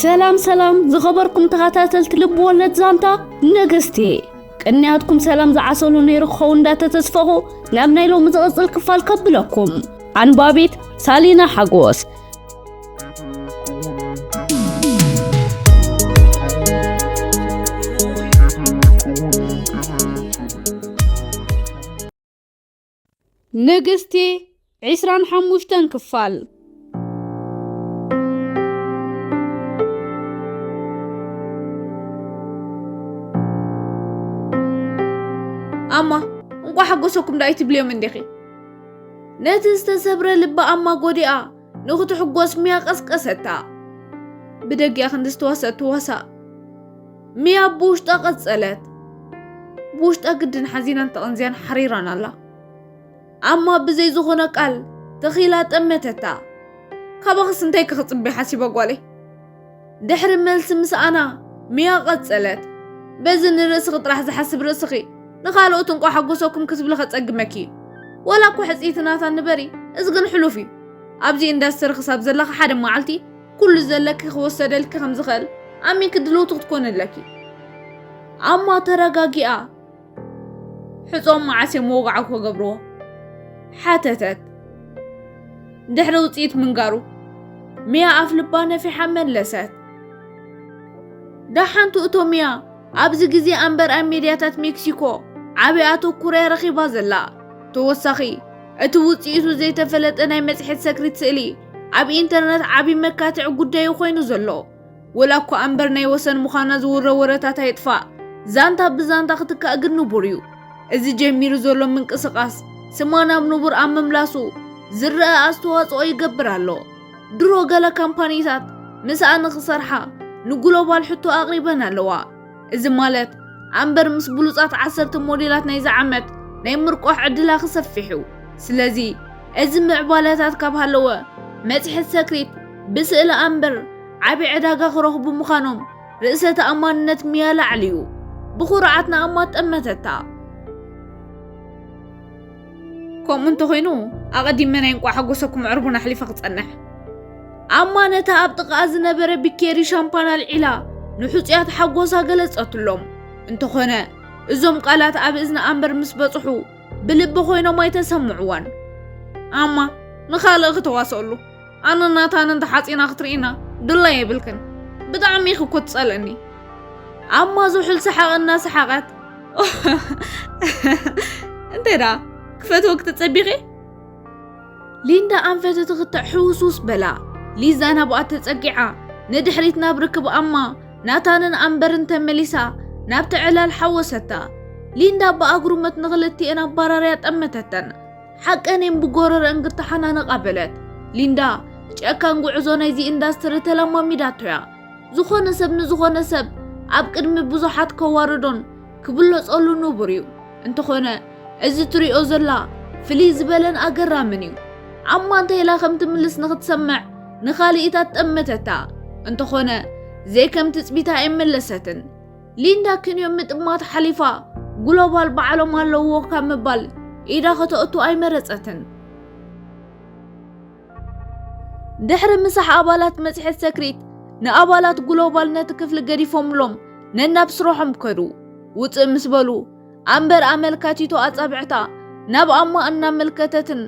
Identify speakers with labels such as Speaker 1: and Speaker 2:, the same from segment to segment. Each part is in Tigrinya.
Speaker 1: ሰላም ሰላም ዝኸበርኩም ተኸታተልቲ ልቢ ወለድ ዛንታ ነገስቲ ቅንያትኩም ሰላም ዝዓሰሉ ነይሩ ክኸውን እንዳተተስፈኹ ናብ ናይ ሎሚ ዝቕፅል ክፋል ከብለኩም ኣንባቢት ሳሊና ሓጎስ ንግስቲ ዕስራን ሓሙሽተን ክፋል ኣማ እንቋ ሓጎሰኩም ዳይ ትብልዮም እንዲኺ ነቲ ዝተሰብረ ልቢ ኣማ ጎዲኣ ንኽትሕጎስ ሚያ ቀስቀሰታ ብደጊኣ ክንዲ ዝተዋሰት ትዋሳእ ሚያ ብውሽጣ ቀጸለት። ብውሽጣ ግድን ሓዚናን ተቐንዝያን ሓሪራን ኣላ። ኣማ ብዘይ ዝኾነ ቃል ተኺላ ጠመተታ። ካባኽስ እንታይ ክኽጽበ ሓሲበ ጓለይ? ድሕሪ መልሲ ምስኣና ሚያ ቀጸለት። በዚ ንርእስኺ ጥራሕ ዝሓስብ ርእስኺ ንኻልኦት እንቋ ሓጎሰኩም ክትብሊ ከጸግመኪ እዩ። ወላ እኮ ሕጽይቲ ናታ ንበሪ፣ እዚ ግን ሕሉፍ እዩ። ኣብዚ ኢንዳስትሪ ክሳብ ዘለኻ ሓደ መዓልቲ ኩሉ ዘለኪ ክወሰደልኪ ከም ዝኽእል ኣሚንኪ ድልውቲ ክትኮኒ ኣለኪ ኣማ ተረጋጊኣ ሕጾም መዓስ እዮም ወግዓ ክገብርዎ ሓተተት ድሕሪ ውፅኢት ምንጋሩ ሚያ ኣፍ ልባ ነፊሓ መለሰት ዳሓንቱ እቶ ሚያ ኣብዚ ግዜ ኣንበር ኣብ ሚድያታት ሜክሲኮ ዓቢ ኣተኩሮ'ያ ረኺባ ዘላ። ተወሳኺ፣ እቲ ውጽኢቱ ዘይተፈለጠ ናይ መጽሔት ሰክሪት ስእሊ ኣብ ኢንተርነት ዓቢ መካትዒ ጉዳይ'ዩ ኮይኑ ዘሎ። ወላ'ኳ ኣንበር ናይ ወሰን ምዃና ዝውረ ወረታት ኣይጥፋእ፣ ዛንታ ብዛንታ ክትካእ ግን ንቡር'ዩ። እዚ ጀሚሩ ዘሎ ምንቅስቓስ ስማ ናብ ንቡር ኣብ ምምላሱ ዝረኣ ኣስተዋጽኦ ይገብር ኣሎ። ድሮ ገለ ካምፓኒታት ምስኣ ንኽሰርሓ ንግሎባል ሕቶ ኣቕሪበን ኣለዋ። እዚ ማለት ኣምበር ምስ ብሉጻት ዓሰርተ ሞዴላት ናይዚ ዓመት ናይ ምርቋሕ ዕድላ ክሰፍሕ እዩ። ስለዚ እዚ ምዕባለታት ካብ ሃለወ መጽሔት ሰክሪት ብስእሊ ኣምበር ዓቢ ዕዳጋ ክረኽቡ ምዃኖም ርእሰ ተኣማንነት ሚያ ላዕሊ እዩ። ብኹርዓት ንኣማ ጠመተታ። ከምኡ እንተኾይኑ ኣቐዲመ ናይ እንቋዕ ሓጎሰኩም ዕርቡን ኣሕሊፈ ክጸንሕ ኣማ ነታ ኣብ ጥቓኣ ዝነበረ ብኬሪ ሻምፓን ኣልዒላ ንሕጹያት ሓጎሳ ገለጸትሎም እንተኾነ እዞም ቃላት ኣብ እዝኒ ኣምበር ምስ በጽሑ ብልቢ ኮይኖም ኣይተሰምዕዎን ኣማ ንኻልእ ክተዋስኣሉ ኣነን ናታንን ተሓጺና ክትርእይና ድላይ የብልክን ብጣዕሚ ኢኺ እኮ ትጸልእኒ ኣማ ዝሑል ሰሓቕ እናሰሓቐት እንታይ ደኣ ክፈትዎ ክትጸቢኺ ሊንዳ ኣንፈት ትኽትዕ ሕውስውስ በላ ሊዛ ናብኣ ተጸጊዓ ንድሕሪት ናብ ርክብ ኣማ ናታንን ኣንበርን ተመሊሳ ናብቲ ዕላል ሓወሰታ ሊንዳ ብኣግሩመት ንኽልቲኤን ኣባራርያ ጠመተተን ሓቀኔም ብጎረረእን ክተሓናነቓ በለት። ሊንዳ ጨካን ጉዕዞ ናይዚ ኢንዳስትሪ ተለማሚዳቶ'ያ። ዝኾነ ሰብ ንዝኾነ ሰብ ኣብ ቅድሚ ብዙሓት ከዋርዶን ክብለጸሉ ንቡር'ዩ። እንተኾነ እዚ ትሪኦ ዘላ ፍልይ ዝበለን ኣገራምን'ዩ። ዓማ እንታይ ኢላ ከም ትምልስ ንኽትሰምዕ ንኻልኢታት ጠመተታ። እንተኾነ ዘይከም ትጽቢታ ኣይመለሰትን። ሊንዳ ክንዮ ምጥማት ሓሊፋ ግሎባል ባዕሎም ኣለዎ ካብ ምባል ኢዳ ከተእቱ ኣይመረጸትን። ድሕሪ ምሳሕ ኣባላት መጽሔት ሰክሪት ንኣባላት ግሎባል ነቲ ክፍሊ ገዲፎምሎም ነናብ ስራሖም ከዱ። ውፅእ ምስ በሉ ኣንበር ኣመልካቲቶ ኣጻብዕታ ናብ ኣማ እናመልከተትን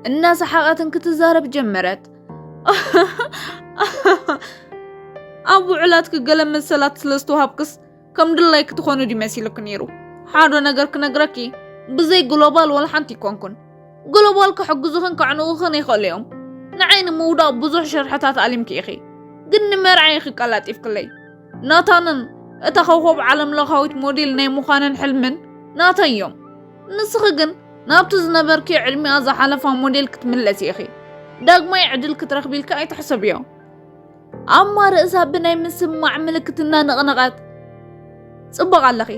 Speaker 1: እናሰሓቐትን ክትዛረብ ጀመረት። ኣብ ውዕላትኪ ገለ መሰላት ስለ ዝተዋሃብክስ ከም ድላይ ክትኾኑ ድዩ መሲሉኪ ነይሩ ሓደ ነገር ክነግረኪ ብዘይ ግሎባል ወላ ሓንቲ ይኮንኩን ግሎባል ክሕግዙኽን ከዕንቑኽን ይኽእሉ እዮም ንዓይ ንምውዳቕ ብዙሕ ሸርሕታት ኣሊምኪ ኢኺ ግን ንመርዓ ኢኺ ቀላጢፍክለይ ናታንን እታ ኮኸብ ዓለም ለኻዊት ሞዴል ናይ ምዃንን ሕልምን ናተይ እዮም ንስኺ ግን ናብቲ ዝነበርክዮ ዕድሚኣ ዝሓለፋ ሞዴል ክትምለሲ ኢኺ። ዳግማይ ዕድል ክትረኽቢ ኢልካ ኣይትሕሰብዮ። ኣማ ርእሳ ብናይ ምስማዕ ምልክት እናነቕነቐት ጽቡቕ ኣለኺ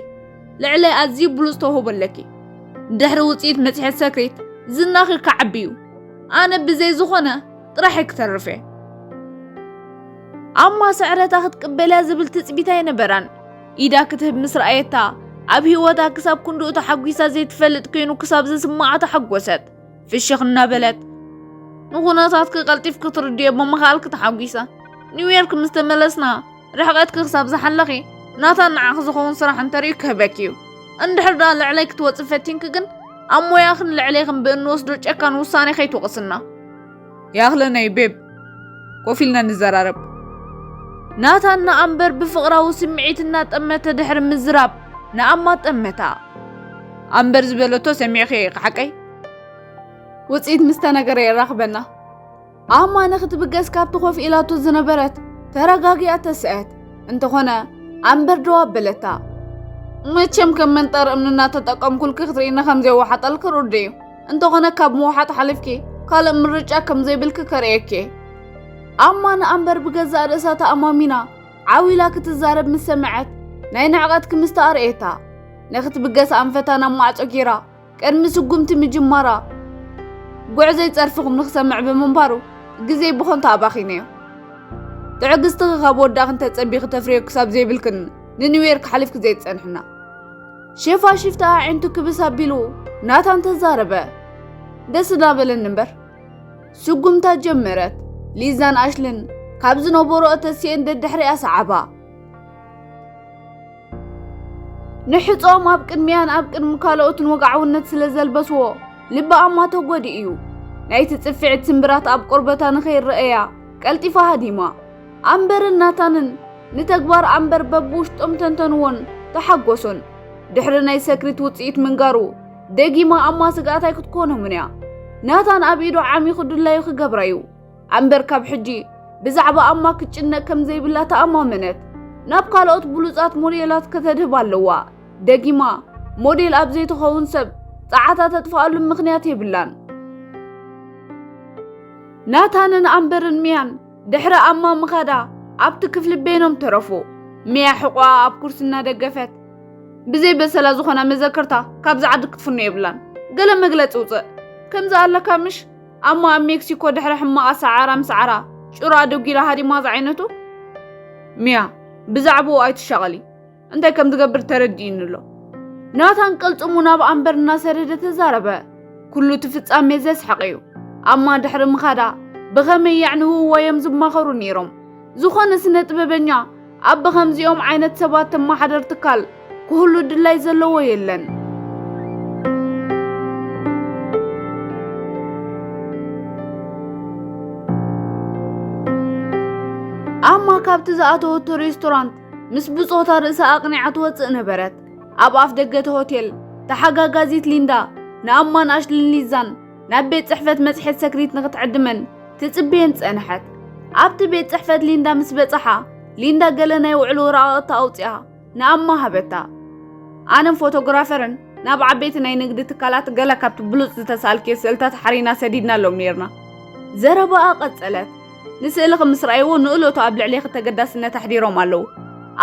Speaker 1: ልዕለይ ኣዝዩ ብሉጽ ተውህቦ ኣለኪ ድሕሪ ውጽኢት መጽሔት ሰክሪት ዝናኺ ክዓቢ እዩ ኣነ ብዘይ ዝኾነ ጥራሕ ክትርፍ እየ ኣማ ስዕረታ ክትቅበልያ ዝብል ትጽቢት ኣይነበራን ኢዳ ክትህብ ምስ ረኣየታ ኣብ ህይወታ ክሳብ ክንድኡ ተሓጒሳ ዘይትፈልጥ ኮይኑ ክሳብ ዝስምዓ ተሓጎሰት። ፍሽኽ እናበለት ንኹነታት ክቀልጢፍ ክትርድዮ ብምኽኣል ክተሓጒሳ ኒውዮርክ ምስ ተመለስና ርሕቀት ክሳብ ዝሓለኺ ናታ ንዓኽ ዝኸውን ስራሕ እንተርእዩ ክህበክ እዩ እንድሕር ደኣ ልዕለይ ክትወፅእ ፈቲንኪ ግን ኣብ ሞያኽን ልዕሌኽን ብእንወስዶ ጨካን ውሳኔ ከይትወቕስና ያኽለነይ ቤብ ኮፍ ኢልና ንዘራረብ። ናታን ንኣምበር ብፍቕራዊ ስምዒት እናጠመተ ድሕሪ ምዝራብ ንኣማ ጠመታ። ኣምበር ዝበለቶ ሰሚዕኺ ኢኺ ሓቀይ? ውፅኢት ምስ ተነገረ የራኽበና። ኣማ ንኽትብገስ ካብቲ ኮፍ ኢላቶ ዝነበረት ተረጋጊኣ ተስአት። እንተኾነ ኣምበር ደው ኣበለታ። መቸም ከም መንጠር እምኒ እናተጠቀምኩልኪ ክትርእይኒ ከም ዘየዋሓጠልኪ ርዱእ እዩ። እንተኾነ ካብ ምውሓጥ ሓሊፍኪ ካልእ ምርጫ ከም ዘይብልኪ ከርእየኪ እየ። ኣማን ኣንበር ብገዛእ ርእሳ ተኣማሚና ዓው ኢላ ክትዛረብ ምስ ሰምዐት ናይ ንዕቐት ክምስቲ ኣርእየታ ንክትብገስ ኣንፈታ ናብ ማዕጾ ጌራ ቅድሚ ስጉምቲ ምጅማራ ጉዕዘይ ጸርፍኹም ንክሰምዕ ብምንባሩ ግዜ ብኾንታ ኣባኺነዮ ትዕግስትኺ ካብ ወዳኺ እንተጸቢኺ ተፍርዮ ክሳብ ዘይብልክን ንኒውዮርክ ሓሊፍኪ ዘይትጸንሕና ሸፋሽፍቲ ኣዒንቱ ክብስ ኣቢሉ ናታን ተዛረበ። ደስ እንዳበለን እምበር ስጉምታ ጀመረት። ሊዛን ኣሽልን ካብ ዝነበረኦ ተሲኤን ደድሕሪኣ ሰዓባ። ንሕጾም ኣብ ቅድሚያን ኣብ ቅድሚ ካልኦትን ወግዓውነት ስለ ዘልበስዎ ልበኣማ ተጎዲኡ እዩ። ናይቲ ጽፍዒት ስምብራት ኣብ ቆርበታ ንኸይረኣያ ቀልጢፋ ሃዲማ። ኣምበርን ናታንን ንተግባር ኣምበር በብውሽጦም ተንተንዎን ተሓጎሱን። ድሕሪ ናይ ሰክሪት ውጽኢት ምንጋሩ ደጊማ ኣማ ስግኣት ኣይክትኮኖምን እያ። ናታን ኣብ ኢዱ ዓሚኹ ድላዩ ክገብራ እዩ። ኣምበር ካብ ሕጂ ብዛዕባ ኣማ ክትጭነቅ ከም ዘይብላ ተኣማመነት። ናብ ካልኦት ብሉጻት ሞዴላት ከተድህብ ኣለዋ። ደጊማ ሞዴል ኣብ ዘይትኸውን ሰብ ጸዓታ ተጥፍኣሉ ምኽንያት የብላን። ናታንን ኣምበርን ሚያን ድሕሪ ኣማ ምኻዳ ኣብቲ ክፍሊ በይኖም ተረፉ። ሚያ ሕቖኣ ኣብ ኩርሲ እናደገፈት ብዘይ በሰላ ዝኾና መዘከርታ ካብዚ ዓዲ ክትፍኖ የብላን። ገለ መግለጺ ውጽእ ከምዚ ኣለካ ምሽ ኣሞ ኣብ ሜክሲኮ ድሕሪ ሕማቓ ሰዓራ ምስዓራ ጭሮ ኣደጒላ ሃዲማ ዝዓይነቱ ሚያ ብዛዕብኡ ኣይትሻቐሊ እንታይ ከም ዝገብር ተረዲኡኒ ኣሎ። ናታን ቅልጽሙ ናብ ኣምበር እናሰደደ ተዛረበ። ኩሉ እቲ ፍጻሜ ዘስሕቕ እዩ። ኣማ ድሕሪ ምኻዳ ብኸመይ የዕንውዎ እዮም ዝማኸሩ ነይሮም። ዝኾነ ስነ ጥበበኛ ኣብ ብኸምዚኦም ዓይነት ሰባት ተመሓደር ትካል ክህሉ ድላይ ዘለዎ የለን። ኣማ ካብቲ ዝኣተወቶ ሬስቶራንት ምስ ብጾታ ርእሳ ኣቕኒዓ ትወጽእ ነበረት። ኣብ ኣፍ ደገ እቲ ሆቴል ተሓጋጋዚት ሊንዳ ንኣማን ኣሽልን ሊዛን ናብ ቤት ጽሕፈት መጽሔት ሰክሪት ንኽትዕድመን ትጽበየን ጸንሐት። ኣብቲ ቤት ጽሕፈት ሊንዳ ምስ በጽሓ ሊንዳ ገለ ናይ ውዕሎ ወረቓቕቲ ኣውጽኣ ንኣማ ሃበታ። ኣነን ፎቶግራፈርን ናብ ዓበይቲ ናይ ንግዲ ትካላት ገለ ካብቲ ብሉጽ ዝተሳእልክዮ ስእልታት ሓሪና ሰዲድናሎም ነይርና። ዘረባኣ ቀጸለት። ንስእሊ ከም ምስ ረኣይዎ ንእለቱ ኣብ ልዕሌኺ ተገዳስነት ኣሕዲሮም ኣለዉ።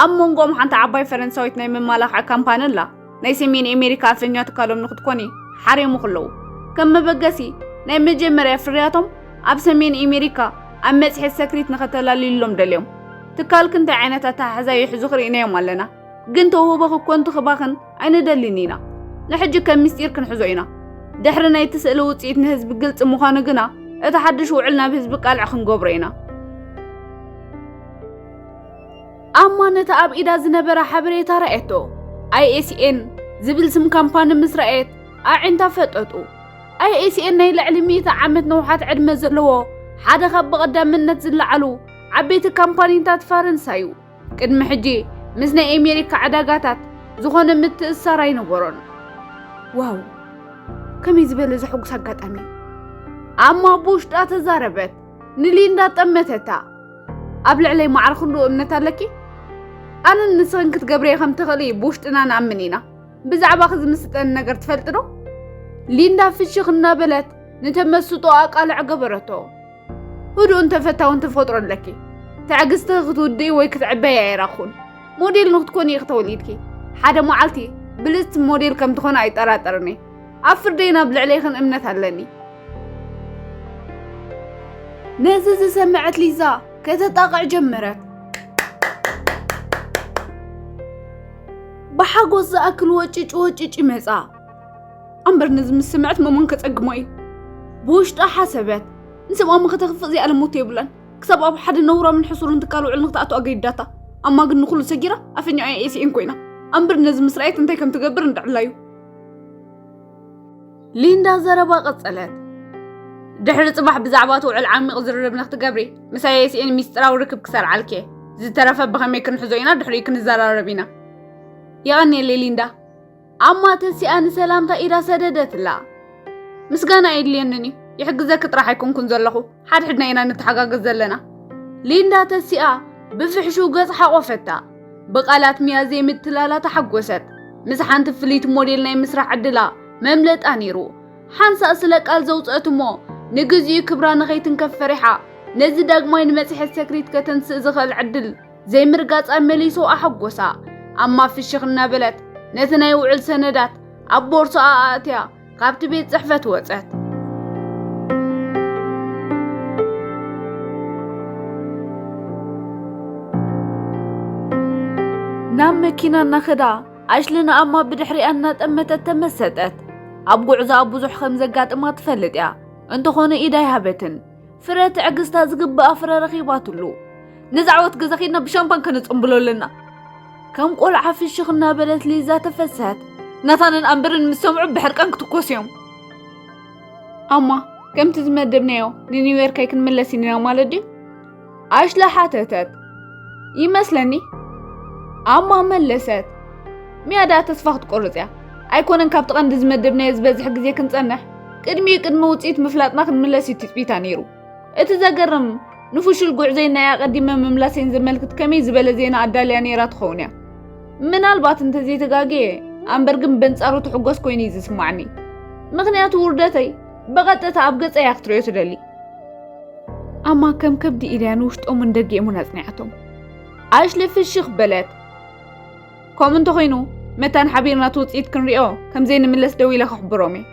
Speaker 1: ኣብ መንጎኦም ሓንቲ ዓባይ ፈረንሳዊት ናይ መማላኽዒ ካምፓኒ ኣላ። ናይ ሰሜን ኣሜሪካ ኣፈኛ ትካሎም ንክትኮኒ ሓሪሙኺ ኣለዉ። ከም መበገሲ፣ ናይ መጀመርያ ፍርያቶም ኣብ ሰሜን ኣሜሪካ ኣብ መጽሔት ሰክሪት ንኸተላልዩሎም ደልዮም። ትካልኪ እንታይ ዓይነት ኣተሓሕዛ ይሕዙ ክርኢናዮም ኣለና። ግን ተውህቦኺ እኮ እንትኽባኽን ኣይንደሊን ኢና። ንሕጂ ከም ምስጢር ክንሕዞ ኢና። ድሕሪ ናይቲ ስእሊ ውጽኢት ንህዝቢ ግልጺ ምዃኑ ግና እቲ ሓድሽ ውዕል ናብ ህዝቢ ቃልዕ ክንገብሮ ኢና። ኣማ ነቲ ኣብ ኢዳ ዝነበረ ሓበሬታ ረኣየቶ። ኣይኤስኤን ዝብል ስም ካምፓኒ ምስ ረኣየት ኣዒንታ ፈጠጡ። ኣይኤስኤን ናይ ልዕሊ ሚእቲ ዓመት ነውሓት ዕድመ ዘለዎ ሓደ ካብ ብቐዳምነት ዝለዓሉ ዓበይቲ ካምፓኒታት ፈረንሳ እዩ። ቅድሚ ሕጂ ምስ ናይ ኣሜሪካ ዕዳጋታት ዝኾነ ምትእስሳር ኣይነበሮን። ዋው ከመይ ዝበለ ዘሐጉስ ኣጋጣሚ እዩ! ኣማ ብውሽጣ ተዛረበት። ንሊንዳ ጠመተታ። ኣብ ልዕለይ ማዕረ ክንዶ እምነት ኣለኪ? ኣነን ንስኽን ክትገብርየ ከም ትኽእሊ ብውሽጥና ንኣምን ኢና። ብዛዕባኺ ዝምስጠኒ ነገር ትፈልጢ ዶ? ሊንዳ ፍሽኽ እናበለት ንተመስጦ ኣቃልዕ ገበረቶ። ህዱእን ተፈታውን ተፈጥሮ ኣለኪ ትዕግስትኺ ክትውድኢ ወይ ክትዕበይ ኣይራኹን ሞዴል ንክትኮኒ ኢኺ ተወሊድኪ ሓደ መዓልቲ ብልፅቲ ሞዴል ከም ትኾነ ኣይጠራጠርን እየ ኣብ ፍርደይን ኣብ ልዕሌኽን እምነት ኣለኒ ነዚ ዝሰመዐት ሊዛ ከተጣቕዕ ጀመረት ብሓጎስ ዝኣክል ወጭጭ ወጭጭ ይመፃ ኣምበር ነዚ ምስ ስምዐት መሞን ከጸግሞ እዩ ብውሽጣ ሓሰበት ንስምዖም ንኸተኽፍእ ዘይኣለሞቶ የብላን ክሳብ ኣብ ሓደ ነውራምን ሕሱርን ትካል ውዕል ንክትኣቱ ኣገዲዳታ ኣማ ግን ንኹሉ ሰጊራ ኣፈኛኣ ኤሲኤን ኮይና ኣምበር ነዚ ምስ ረኣየት እንታይ ከም ትገብር እንድዕላ እዩ ሊንዳ ዘረባ ቀጸለት ድሕሪ ጽባሕ ብዛዕባ እቲ ውዕል ዓሚቕ ዝርርብ ንክትገብሪ ምሳይ ኤሲኤን ሚስጥራዊ ርክብ ክሰርዓልክ እየ ዝተረፈ ብኸመይ ክንሕዞ ኢና ድሕሪኡ ክንዘራረብ ኢና የቐኒየለይ ሊንዳ ኣማ ተሲኣ ንሰላምታ ኢዳ ሰደደትላ። ምስጋና ኣየድልየንን እዩ፣ ይሕግዘኪ ጥራሕ ኣይኮንኩን ዘለኹ፣ ሓድሕድና ኢና ንተሓጋገዝ ዘለና። ሊንዳ ተሲኣ ብፍሕሹው ገጽ ሓቖፈታ። ብቓላት ሚያ ዘይምትላላ ተሓጎሰት። ምስ ሓንቲ ፍልይቲ ሞዴል ናይ ምስራሕ ዕድላ መምለጣ ነይሩ። ሓንሳእ ስለ ቃል ዘውጽአት እሞ ንግዚኡ ክብራ ንኸይትንከፍ ፈሪሓ ነዚ ዳግማይ ንመጽሔት ሰክሪት ከተንስእ ዝኽእል ዕድል ዘይምርጋጻ መሊሱ ኣሐጎሳ። ኣማ ፍሽኽ እናበለት ነቲ ናይ ውዕል ሰነዳት ኣብ ቦርሳኣ ኣእትያ ካብቲ ቤት ጽሕፈት ወጸት። ናብ መኪና እናኸዳ ኣሽሊ ንኣማ ብድሕሪኣ እናጠመተት ተመሰጠት። ኣብ ጉዕዞኣ ብዙሕ ከም ዘጋጥማ ትፈልጥ እያ፣ እንተኾነ ኢድ ኣይሃበትን። ፍረ ትዕግስታ ዝግብኣ ፍረ ረኺባትሉ ነዚ ዓወት ገዛ ኺድና ብሻምፓን ከነፀምብሎ ኣለና ከም ቆልዓ ፍሽኽ እናበለት ሊዛ ተፈሰሐት ናታንን ኣንበርን ምስ ሰምዑ ብሕርቃን ክትኮስ እዮም ኣማ ከምቲ ዝመደብናዮ ንኒውዮርክ ኣይክንምለስ ኢና ማለት ድዩ ኣሽለ ሓተተት። ይመስለኒ ኣማ መለሰት። ሚያ ደኣ ተስፋ ክትቆርጽ እያ ኣይኮነን ካብቲ ቀንዲ ዝመደብናዮ ዝበዝሕ ግዜ ክንጸንሕ ቅድሚ ቅድሚ ውፅኢት ምፍላጥና ክንምለስ እዩ ትፅቢታ ነይሩ እቲ ዘገርም ንፍሹል ጉዕዘይ ናይ ኣቐዲመ ምምላሰይን ዘመልክት ከመይ ዝበለ ዜና ኣዳልያ ነይራ ትኸውን እያ ምናልባት እንተዘይተጋግየ ኣንበር ግን በንጻሩ ትሕጎስ ኮይኑ እዩ ዝስማዕኒ ምክንያቱ ውርደተይ ብቐጥታ ኣብ ገጸ እያ ክትሪኦ ትደሊ ኣማ ከም ከብዲ ኢልያ ንውሽጦምን ደጊኦምን ኣጽኒዓቶም ኣሽሊ ፍሽኽ በለት ከምኡ እንተኾይኑ መታን ሓቢርና እቲ ውፅኢት ክንሪኦ ከምዘይ ንምለስ ደው ኢለ ከሕብሮም እየ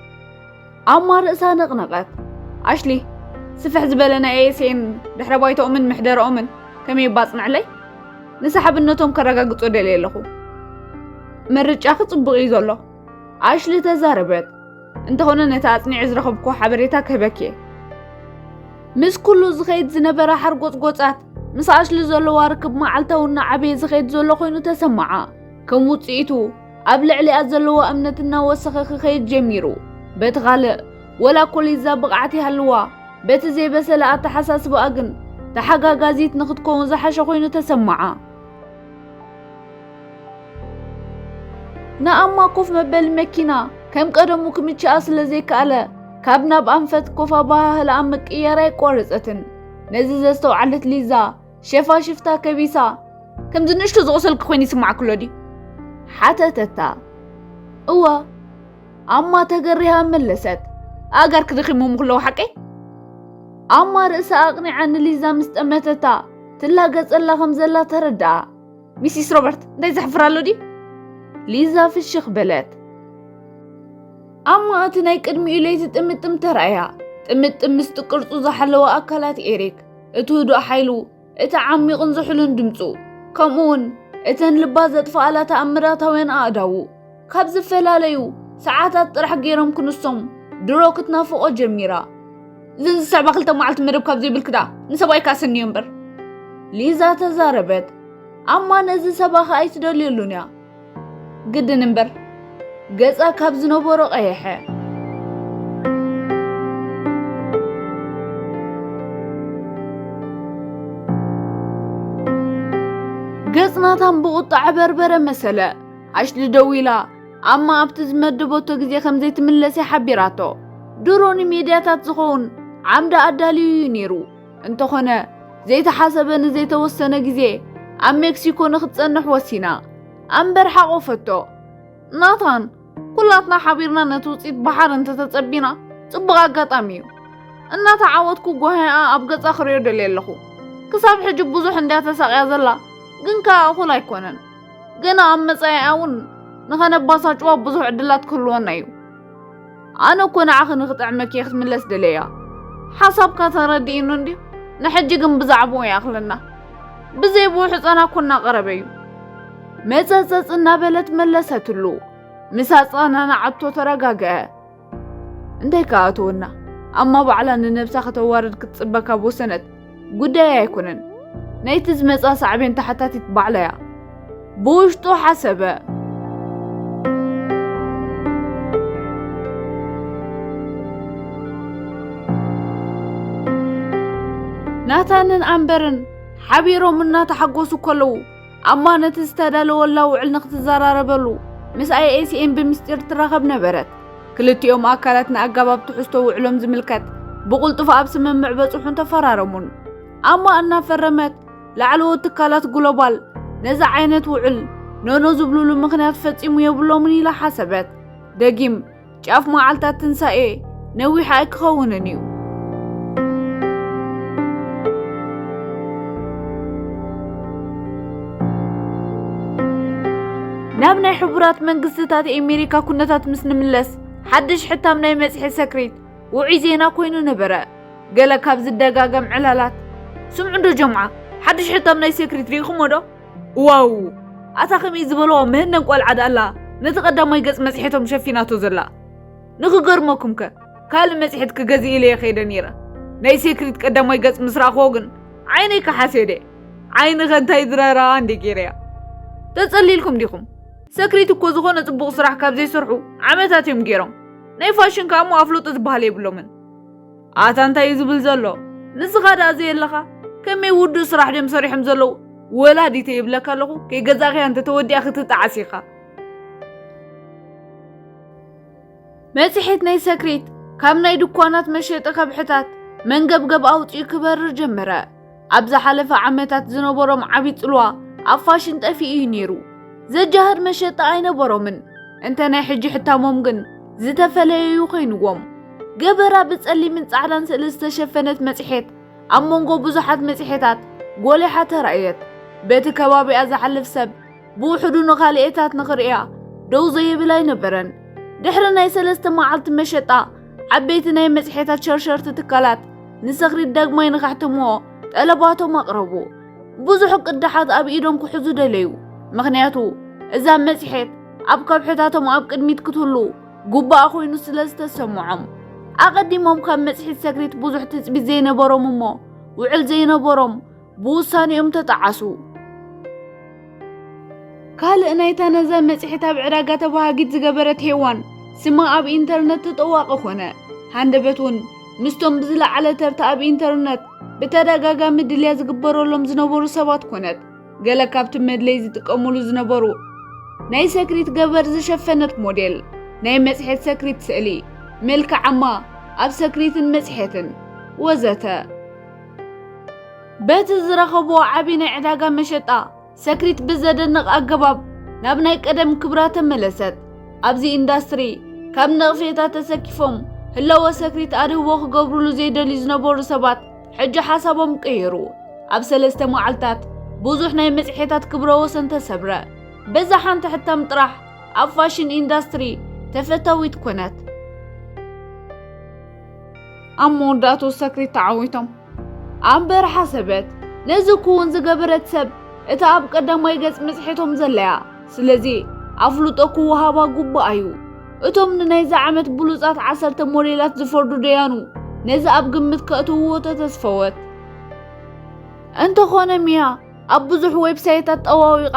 Speaker 1: ኣማ ርእሳ ነቕነቐት ኣሽሊ ስፍሕ ዝበለ ናይ ኤኤስኤን ድሕረ ባይታኦምን ምሕደራኦምን ከመይ ባጽንዕለይ ንሰሓብነቶም ከረጋግጾ ደልየ ኣለኹ ምርጫኺ ጽቡቕ እዩ ዘሎ ኣሽሊ ተዛረበት እንተኾነ ነቲ ኣጽኒዐ ዝረኸብኩዎ ሓበሬታ ክህበክ እየ ምስ ኩሉ ዝኸይድ ዝነበረ ሓርጎጽጎጻት ምስ ኣሽሊ ዘለዋ ርክብ መዓልታዊ እናዓበየ ዝኸይድ ዘሎ ኮይኑ ተሰማዓ ከም ውጽኢቱ ኣብ ልዕሊኣ ዘለዎ እምነት እናወሰኸ ክኸይድ ጀሚሩ በቲ ካልእ ወላ ኮሊዛ ብቕዓት ይሃልዋ በቲ ዘይበሰለ ኣተሓሳስባኣ ግን ተሓጋጋዚት ንክትከውን ዝሓሸ ኮይኑ ተሰማዓ ንኣማ ኮፍ መበሊ መኪና ከም ቀደሙ ክምችኣ ስለ ዘይከኣለ ካብ ናብ ኣንፈት ኮፍ ኣበሃህላኣ ምቅያር ኣይቋረጸትን። ነዚ ዘስተውዓለት ሊዛ ሸፋሽፍታ ከቢሳ ከምዚ ንእሽቶ ዝቑሰልኪ ኮይኑ ይስማዕኪ ኣሎ ድዩ? ሓተተታ። እወ ኣማ ተገሪሃ መለሰት። ኣእጋርኪ ደኺሞም ክለዉ ሓቀይ? ኣማ ርእሳ ኣቕኒዓ ንሊዛ ምስ ጠመተታ ትላገጸላ ከም ዘላ ተረድኣ። ሚሲስ ሮበርት እንታይ ዘሕፍር ኣሎ ድዩ ሊዛ ፍሽኽ በለት ኣብ ማእቲ ናይ ቅድሚኡ ለይቲ ጥምጥም ተራእያ ጥምጥም ምስቲ ቅርጹ ዝሓለወ ኣካላት ኤሪክ እቲ ህዱእ ሓይሉ እቲ ዓሚቕን ዝሑሉን ድምፁ ከምኡ እውን እተን ልባ ዘጥፍኣላ ተኣምራታውያን ኣእዳዉ ካብ ዝፈላለዩ ሰዓታት ጥራሕ ገይሮም ክንሶም ድሮ ክትናፍቆ ጀሚራ እዘን ዝስዕባ ክልተ መዓልቲ መደብ ካብ ዘይብልክዳ ንሰብኣይ ካስንዮ እምበር ሊዛ ተዛረበት ኣማ ነዚ ሰባኺ ኣይትደልየሉን እያ ግድን እምበር ገጻ ካብ ዝነበሮ ቀየሐ ገጽ ናታን ብቁጣ ዕበርበረ መሰለ ኣሽሊ ደዊላ ኣማ ኣብቲ ዝመደበቶ ግዜ ከም ዘይትምለስ እያ ሓቢራቶ። ድሮ ንሜድያታት ዝኸውን ዓምዲ ኣዳልዩ እዩ ነይሩ። እንተኾነ ዘይተሓሰበ ንዘይተወሰነ ግዜ ኣብ ሜክሲኮ ንክትጸንሕ ወሲና ኣምበር ሓቆፈቶ። ናታን ኩላትና ሓቢርና ነቲ ውፅኢት ባሓር እንተተጸቢና ጽቡቕ ኣጋጣሚ እዩ። እናተዓወትኩ ጓህያኣ ኣብ ገጻ ክሪኦ ደልየ ኣለኹ። ክሳብ ሕጂ ብዙሕ እንድያ ተሳቕያ ዘላ ግን ከኣ እኹል ኣይኮነን። ግን ኣብ መጻኢኣ እውን ንኸነባሳጭዋ ብዙሕ ዕድላት ክህልወና እዩ ኣነ እኮ ንዓኺ ንኽጥዕመኪ እየ ክትምለስ ደለያ ሓሳብካ ተረዲእኑ እንድዩ ንሕጂ ግን ብዛዕባኡ ይኣኽለና ብዘይብኡ ሕፀና እኮ እናቐረበ እዩ መፀፀፅ እናበለት መለሰትሉ ምስ ኣፀናናዓቶ ተረጋግአ እንታይ ከኣትወና ኣማ ባዕላ ንነብሳ ከተዋርድ ክትጽበ ካብ ወሰነት ጉዳይ ኣይኮነን ናይቲ ዝመጻ ሳዕቤን ተሓታቲት ባዕላ እያ ብውሽጡ ሓሰበ ናታንን ኣምበርን ሓቢሮም እናተሓጎሱ ከለዉ ኣማ ነቲ ዝተዳለወላ ውዕል ንክትዘራረበሉ ምስ ኣይኤስኤን ብምስጢር ትራኸብ ነበረት። ክልቲኦም ኣካላት ንኣጋባብ ትሕዝቶ ውዕሎም ዝምልከት ብቕልጡፍ ኣብ ስምምዕ በጽሑን ተፈራረሙን። ኣማ እናፈረመት ላዕለዎት ትካላት ግሎባል ነዚ ዓይነት ውዕል ኖኖ ዝብሉሉ ምክንያት ፈጺሙ የብሎምን ኢላ ሓሰበት። ደጊም ጫፍ መዓልታት ትንሣኤ ነዊሕ ኣይክኸውንን እዩ። ናብ ናይ ሕቡራት መንግስትታት ኣሜሪካ ኩነታት ምስ ንምለስ ሓድሽ ሕታም ናይ መጽሔ ሰክሪት ውዑይ ዜና ኮይኑ ነበረ ገለ ካብ ዝደጋገም ዕላላት ስምዑ ዶ ጀምዓ ሓድሽ ሕታም ናይ ሰክሪት ርኢኹሞ ዶ ዋው ኣታ ከምይ ዝበሎ ምህነን ቆልዓ ዳኣላ ነቲ ቀዳማይ ገጽ መጽሔቶም ሸፊናቶ ዘላ ንክገርመኩም ከ ካልእ መጽሔት ክገዝእ ኢለየ ከይደ ነይረ ናይ ሴክሪት ቀዳማይ ገጽ ምስ ረኣኽዎ ግን ዓይነይ ከሓሴደ ዓይኒ ከንታይ ዝረራ እንዲ ገይረያ ተጸሊልኩም ዲኹም ሰክሪት እኮ ዝኾነ ጽቡቕ ስራሕ ካብ ዘይሰርሑ ዓመታት እዮም ገይሮም ናይ ፋሽን ከኣ እሞ ኣፍልጦ ዝበሃል የብሎምን ኣታ እንታይ እዩ ዝብል ዘሎ ንስኻ ደኣ ዘየለኻ ከመይ ውዱእ ስራሕ ድዮም ሰሪሖም ዘለዉ ወላዲተ ይብለካ ኣለኹ ከይገዛእኽያ እንተ ተወዲኣ ክትጣዓስ ኢኻ መጽሔት ናይ ሰክሬት ካብ ናይ ድኳናት መሸጢ ከብሕታት መንገብገብ ኣውፂኡ ክበርር ጀመረ ኣብ ዝሓለፈ ዓመታት ዝነበሮም ዓብዪ ጽልዋ ኣብ ፋሽን ጠፊኡ እዩ ነይሩ ዘጃህር መሸጣ ኣይነበሮምን እንተ ናይ ሕጂ ሕታሞም ግን ዝተፈለየ እዩ ኮይንዎም ገበራ ብጸሊምን ጻዕዳን ስእሊ ዝተሸፈነት መጽሔት ኣብ መንጎ ብዙሓት መጽሔታት ጎሊሓ ተራእየት በቲ ከባቢኣ ዝሓልፍ ሰብ ብውሕዱ ንኻልኤታት ንኽርእያ ደው ዘይብል ኣይነበረን። ድሕሪ ናይ ሰለስተ መዓልቲ መሸጣ ዓበይቲ ናይ መጽሔታት ሸርሸርቲ ትካላት ንሰክሪት ዳግማይ ንኸሕትምዎ ጠለባቶም ኣቕረቡ። ብዙሕ ቅዳሓት ኣብ ኢዶም ክሕዙ ደለዩ። ምኽንያቱ እዛ መጽሔት ኣብ ከብሕታቶም ኣብ ቅድሚት ክትህሉ ጉባኣ ኮይኑ ስለ ዝተሰምዖም ኣቐዲሞም ካብ መጽሔት ሰክሪት ብዙሕ ትጽቢት ዘይነበሮም እሞ ውዕል ዘይነበሮም ብውሳኔኦም ተጠዓሱ። ካልእ ናይታ ነዛ መጽሔት ኣብ ዕዳጋ ተባሃጊት ዝገበረት ሄዋን ስማ ኣብ ኢንተርነት ተጠዋቒ ኾነ። ሃንደበት እውን ምስቶም ብዝለዓለ ተርታ ኣብ ኢንተርነት ብተደጋጋሚ ድልያ ዝግበረሎም ዝነበሩ ሰባት ኮነት። ገለ ካብቲ መድለይ ዝጥቀሙሉ ዝነበሩ ናይ ሰክሪት ገበር ዝሸፈነት ሞዴል፣ ናይ መጽሔት ሰክሪት ስእሊ፣ መልክዓማ ኣብ ሰክሪትን መጽሔትን ወዘተ በቲ ዝረኸብዎ ዓብዪ ናይ ዕዳጋ መሸጣ ሰክሪት ብዘደንቕ ኣገባብ ናብ ናይ ቀደም ክብራ ተመለሰት። ኣብዚ ኢንዳስትሪ ካብ ነቕፌታ ተሰኪፎም ህለወ ሰክሪት ኣድህቦ ክገብሩሉ ዘይደልዩ ዝነበሩ ሰባት ሕጂ ሓሳቦም ቀየሩ። ኣብ ሰለስተ መዓልታት ብዙሕ ናይ መጽሔታት ክብረ ወሰን ተሰብረ። በዛ ሓንቲ ሕታም ጥራሕ ኣብ ፋሽን ኢንዳስትሪ ተፈታዊት ኮነት። ኣብ መወዳእትኡ ሰክሪት ተዓዊቶም ኣብ በረሓ ሰበት ነዚ ክውን ዝገበረት ሰብ እታ ኣብ ቀዳማይ ገጽ መጽሔቶም ዘለያ ስለዚ ኣፍልጦ ክወሃባ ግቡእ እዩ እቶም ንናይዚ ዓመት ብሉጻት ዓሰርተ ሞዴላት ዝፈርዱ ደያኑ ነዚ ኣብ ግምት ከእትውዎ ተተስፈወት እንተኾነ ሚያ ኣብ ብዙሕ ዌብሳይታት ጠዋዊቓ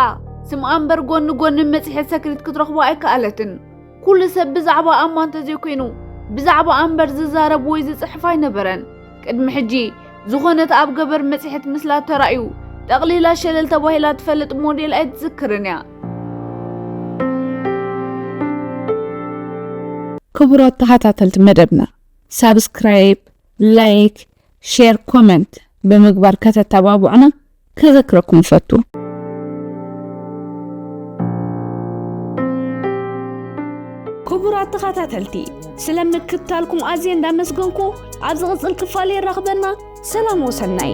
Speaker 1: ስምኣ እምበር ጎኒ ጎኒ መጽሔት ሰክሪት ክትረኽቦ ኣይከኣለትን ኩሉ ሰብ ብዛዕባ ኣማ እንተዘይኮይኑ ብዛዕባ ኣንበር ዝዛረብ ወይ ዝጽሕፍ ኣይነበረን ቅድሚ ሕጂ ዝኾነት ኣብ ገበር መጽሔት ምስላ ተራእዩ ጠቕሊላ ሸለል ተባሂላ ትፈልጥ ሞዴል ኣይትዝክርን እያ
Speaker 2: ክቡራት ተኸታተልቲ መደብና ሳብስክራይብ ላይክ ሼር ኮመንት ብምግባር ከተተባብዑና ከዘክረኩም እፈቱ። ክቡራት ተኸታተልቲ ስለ ምክትታልኩም ኣዝየ እንዳመስገንኩ ኣብ ዝቕጽል ክፋል የራኽበና። ሰላም ወሰናይ